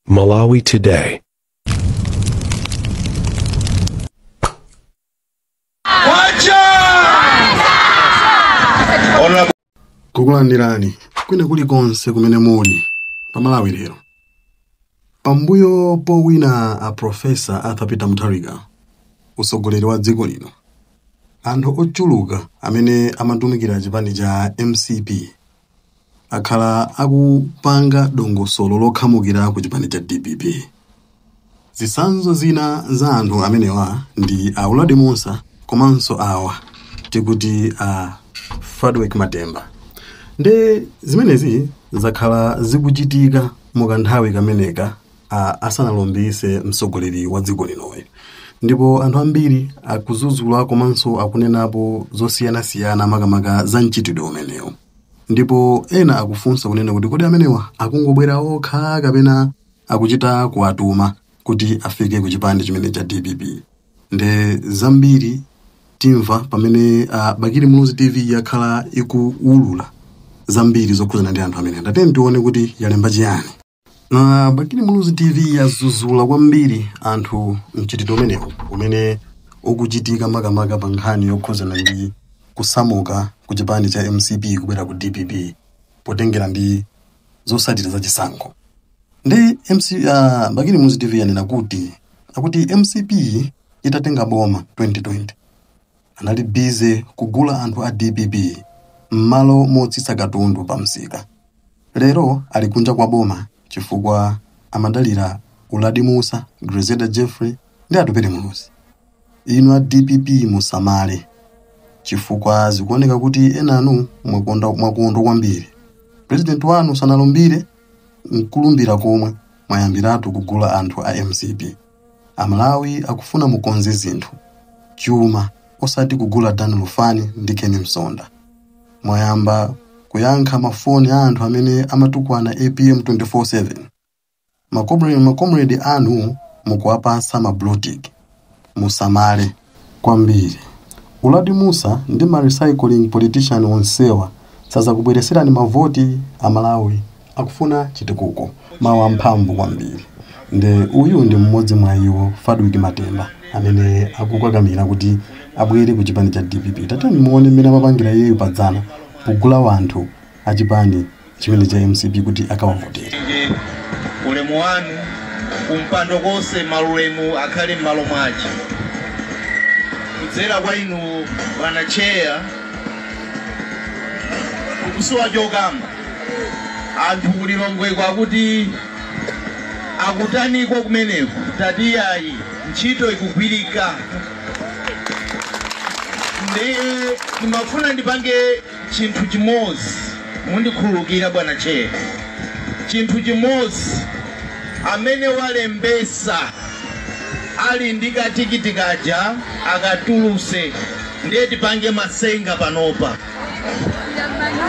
Malawi Today. kukulandirani kwina kulikonse kumene muli pa Malawi lero pambuyo powina a profesa Arthur Peter Mutharika utsogoleri wa dziko lino anthu ochuluka amene amatumikira chipani cha mcp akhala akupanga dongosolo lokhamukira ku chipani cha dpp. Zitsanzo zina za anthu amenewa ndi a Uladi Mussa komanso awa tikuti a Fadwick Matemba. Nde zimenezi zakhala zikuchitika mu kanthawi kameneka a, asanalumbise mtsogoleri wa dziko linoyu ndipo anthu ambiri akuzuzula komanso akunenapo zosiyanasiyana makamaka za mchitidwe umenewu ndipo ena akufunsa kunena kuti kodi amenewa akungobwera okha kapena akuchita kuwatuma kuti afike ku chipanichi chimene cha dpp nde zambiri timva pamene uh, bakili muluzi tv yakhala ikuwulula zambiri zokhuzana ndi anthu amenewa nde tiyeni tione kuti yalemba chiyani Uh, bakili muluzi tv yazuzula kwambiri anthu mchitidwe umenewu umene ukuchitika makamaka pa nkhani yokhuzana ndi kusamuka ku chipani cha mcp kubwera ku dpp potengera ndi zotsatira za chisankho nde MC, uh, bakili muluzi tv yanena kuti akuti mcp itatenga boma 2020 anali busy kugula anthu a dpp m'malo motsitsa katundu pa msika lero ali kunja kwa boma chifukwa amadalira uladi musa Grezelda Jeffrey ndi Atupele Muluzi inu a dpp musamale chifukwa zikuoneka kuti enanu mwakondwa kwambiri president wanu sanalumbire nkulumbira komwe, mwayambiratu kugula anthu a mcp Amalawi akufuna mukonze zinthu, chuma, osati kugula Dan Lufani ndi Ken Msonda. Mwayamba kuyankha mafoni a anthu amene amatukwana apm 24/7. Makomre- Makomredi anu mukuwapatsa ma blue tick. Musamale. kwambiri. Uladi Mussa ndi ma recycling politician onsewa sazakubwereserani mavoti Amalawi akufuna chitukuko. Mawu amphamvu kwambiri nde uyu ndi mmodzi mwa iwo Fadwick Matemba amene akukakamira kuti abwere ku chipani cha dpp tatiyeni muone mmene amapangira iyeyu padzana pogula wanthu achipani chimene cha mcp kuti akawavotere. Ulemu wanu kumpando konse maulemu akhale mmalo mwache kudzera kwa inu bwana chair kukusowa chokamba anthu ku lilongweko akuti akutaniko kumeneko tati yayi ntchito ikugwirika ndiye ndimafuna ndipange Chinthu chimodzi, mundikhululukire bwana chair, chinthu chimodzi amene walembesa ali ndi ka tikiti kaja akatuluse ndiye tipange masenga panopa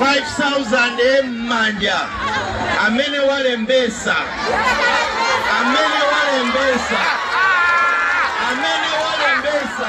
5000 mmanja amene walembesa amene walembesa amene walembesa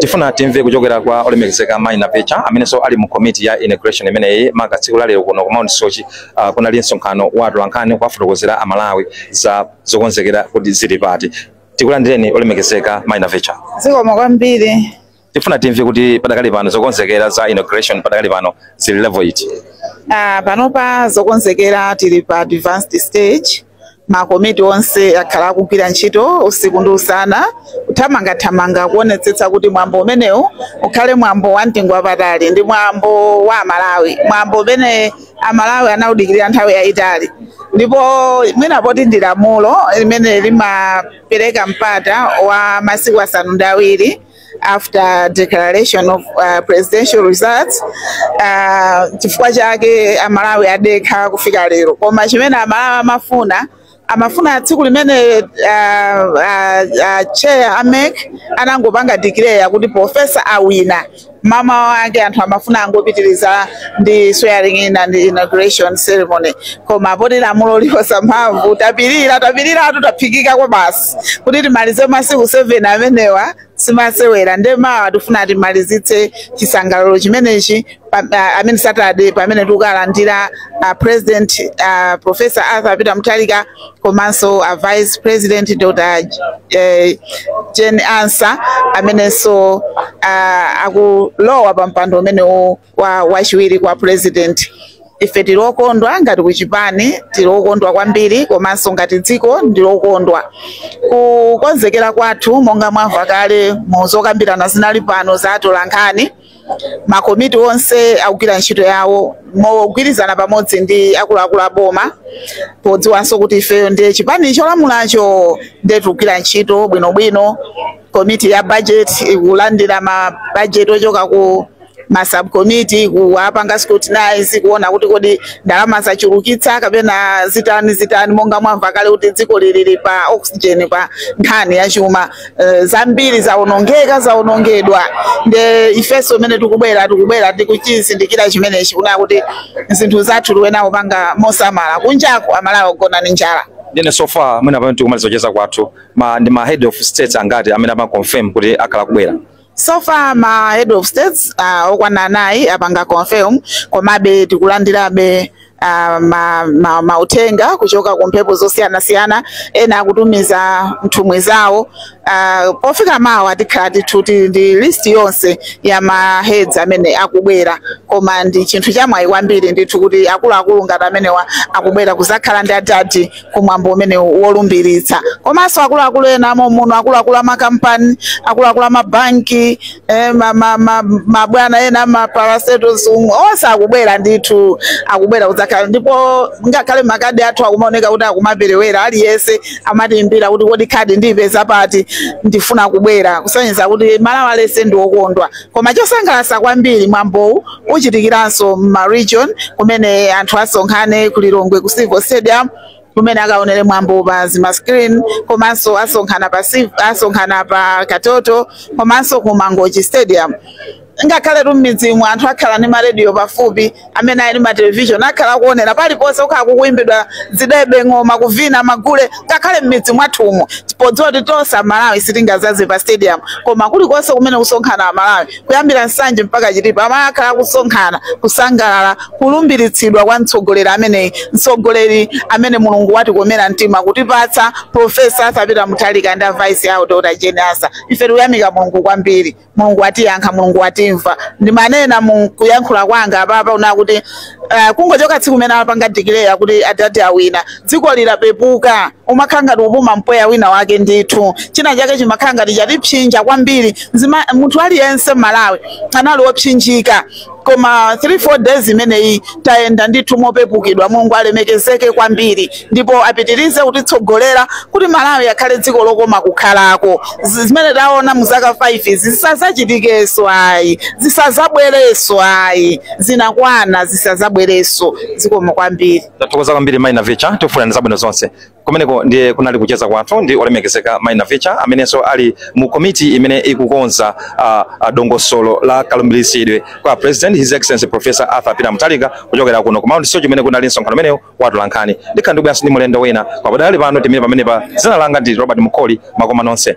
tifuna timve kuchokera kwa olemekezeka mayi navicha amenenso ali mu komiti ya inauguration imeneyi maka tsiku la lero kuno ku mount soche uh, kunali msonkhano wa atolankhani kuwafotokozera amalawi za zokonzekera kuti zili pati tikulandireni olemekezeka mai navicha zikomo kwambiri tifuna timve kuti padakali pano zokonzekera za inauguration padakali pano zili level iti Ah, panopa zokonzekera tili pa advanced stage makomiti onse akhala akugwira ntchito usiku ndi usana kuthamangathamanga kuonetsetsa kuti mwambo umenewu ukhale mwambo wa mtengo wapatali ndi mwambo wa amalawi mwambo umene amalawi anaudikirira nthawi yayitali ndipo mwina poti ndi lamulo limene limapereka mpata wa masiku asanu ndi awiri after declaration of uh, presidential results uh, chifukwa chake amalawi adekha kufika lero koma chimene amalawi amafuna amafuna tsiku limene ah, ah, ah, chair a mec anangopanga declare kuti profesa awina mmawa wake anthu amafuna angopitiriza ndi swearing in and inauguration ceremony koma poti lamulo liposa mphamvu tapirira tapiriratu taphikika kwa basi kuti timalize masiku 7 amenewa simasewera nde mawa tifuna timalizitse chisangalalo chimenechi pa- ah, amene saturday pamene tikukalandira ah, president ah, professor arthur peter mutharika komanso ah, vice president dr eh, jane ansah amenenso ah, akulowa pa mpando umenewu kwa wachiwiri kwa president ife tili okondwa ngati kuchipani tili okondwa kwambiri komanso ngati dziko tili okondwa kukonzekera kwathu monga mwamva kale mu zokambirana zinali pano za atolankhani makomiti onse akugwira ntchito yawo mogwirizana pamodzi ndi akuluakulu a boma podziwanso kuti ifeyo ndiye chipani cholamulacho ndiye tikugwira ntchito bwinobwino komiti ya budget ikulandira ma budget ochoka ma subcommittee kuwapanga scrutinize kuona kuti kodi ndalama zachulukitsa kapena zitani zitani monga mwamva kale kuti dziko lilili pa oxygen pa nkhani ya chuma uh, zambiri zaonongeka zaonongedwa nde ifenso mmene tikubwera tikubwera tikuchizindikira chimenechi kuona kuti zinthu zathu tiyenera kupanga mosamala kunjaku amalawi akugona ndi njala ndiye so far mwina pamene tikumaliza kucheza kwathu ma, ndi ma head of states angati amene amaconfirm kuti akhala kubwera so far ma head of states uh, okwana anayi apanga confirm komabe tikulandirabe uh, ma, ma, mauthenga kuchoka ku mphepo zosiyanasiyana ena akutumiza nthumwi zawo uh, pofika mawa tikhala ndithu tili ndi list yonse ya ma heads amene akubwera koma ndi chinthu chamwayi kwambiri ndithu kuti akuluakulu ngati amenewa akubwera kuzakhala ndi adadi ku mwambo umene wolumbiritsa komanso akuluakulu ena amomuno akuluakulu amakampani akuluakulu amabanki eh, ma- ma- ma- mabwana ena amaparastatals onse akubwera ndithu akubwera kudzakhala ndipo ngakhale makadi athu akumaoneka kuti akumaperewera aliyense amatiimbira kuti kodi khadi ndiyipeza pati ndifuna kubwera kusonyeza kuti malawi yense ndi okondwa koma chosangalatsa kwambiri mwambowu uchitikiranso mma region kumene anthu asonkhane ku Lilongwe ku Civil Stadium kumene akaonere mwambo pa zima screen komanso asonkhana pa Civ- asonkhana pa Katoto komanso ku Mangochi Stadium ngakhaletu m'midzimu anthu akhala ndi marediyo pafupi amene ali ndi ma television akhala akuonera paliponse kukhala kukuimbidwa zidebe ng'oma kuvina magule ngakhale m'midzi mwathumu podziwa kuti tonse amalawi sitingazaze pa stadium koma kulikonse kumene kusonkhana amalawi kuyambira nsanje mpaka chitipa akhala akusonkhana kusangalala kulumbiritsidwa kwa mtsogoleri ameneyi mtsogoleri amene mulungu watikomera mtima kutipatsa professor arthur peter mutharika ndi vice yawo dr jane ansah ife tikuyamika mulungu kwambiri mulungu watiyankha mulungu watimva ndimanena mu kuyankhula kwanga apapa kunena kuti Uh, kungochoka tsiku limene apanga declare kuti adadi awina dziko lilapepuka umakhala ngati ukupuma mpweya wina wake ndithu china chake chimakhala ngati chatipsinja kwambiri Nzima, munthu aliyense m'malawi anali wopsinjika koma 3 4 days imeneyi tayenda ndithu mopepukidwa mulungu alemekezeke kwambiri ndipo apitirize kutitsogolera kuti malawi akhale dziko lokoma kukhalako Zi- zimene taona mu zaka 5 izi zisazachitikeso ayi zisazabwereso ayi zinakwana zisazabwereso zikomo kwambiri tathokoza kwambiri mai navicha tikufunirani zabwino zonse kumeneko ndiye kunali kucheza kwathu ndi olemekezeka mai navicha amenenso ali mu komiti imene ikukonza ah, ah, dongosolo la kalumbiritsidwe kwa president his excellency professor arthur peter mutharika kuchokera kuno ku mount soche kumene kunali msonkhano umenewu wa atolankhani ndikhala ndibweranso ndi mulendo wina pakadali pano titsime pamenepa dzina langa ndi robert mkoli makoma nonse